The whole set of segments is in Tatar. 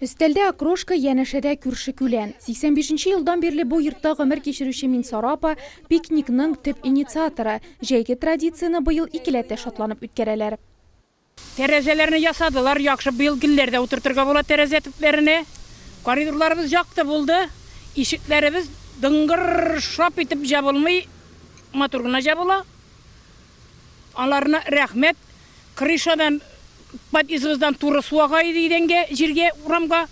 Өстәлдә окрошка, янәшәдә күрше күлән. 85 нче елдан бирле бу йортта гомер кичерүче Минсара апа, пикникның төп инициаторы. Җәйге традицияне быел икеләтә шатланып үткәрәләр. Тәрәзәләрне ясадылар, яхшы, быел гөлләр дә утыртырга була тәрәзә төпләренә. Коридорларыбыз якты булды, ишекләребез дыңгыр-р-р шап итеп җабылмый, матур гына җабыла. Аларына рәхмәт. Крышадан, подъездыбыздан туры су ага иде идәнгә, җиргә, урамга.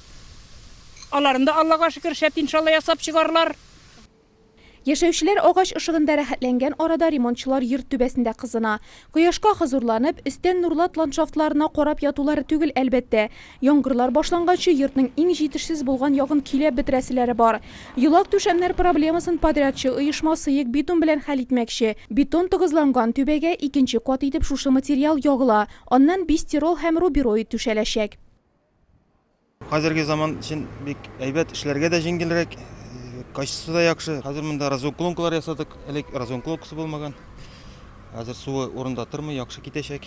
Аларын да, Аллага шөкер, шәп иншалла ясап чыгарлар. Яшәүчеләр агач ышыгында рәхәтләнгән арада ремонтчылар йорт түбәсендә кызына. Кояшка хозурланып, өстән нурлат ландшафтларына карап ятулары түгел, әлбәттә. Яңгырлар башлангачы йортның иң җитешсез булган ягын көйләп бетерәселәре бар. Йолак-түшәмнәр проблемасын подрядчы оешма сыек бетон белән хәл итмәкче. Бетон тыгызланган түбәгә икенче кат итеп шушы материал ягыла, аннан бистирол һәм рубероид түшәләчәк. Хәзерге заман өчен бик әйбәт, эшләргә дә җиңелрәк, качествосы да яхшы. Хәзер монда разуклонкалар ясадык, элек разуклонкасы булмаган. Хәзер суы урында тормый, яхшы китәчәк.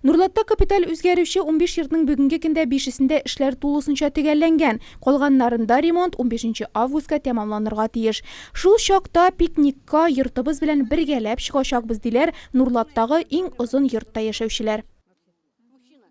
Нурлатта капиталь үзгәрүче унбиш йортның бүгенге көндә бишесендә эшләр тулысынча төгәлләнгән, калганнарында ремонт унбишенче августка тәмамланырга тиеш. Шул чакта пикникка йортыбыз белән бергәләп чыгачакбыз, диләр Нурлаттагы иң озын йортта яшәүчеләр.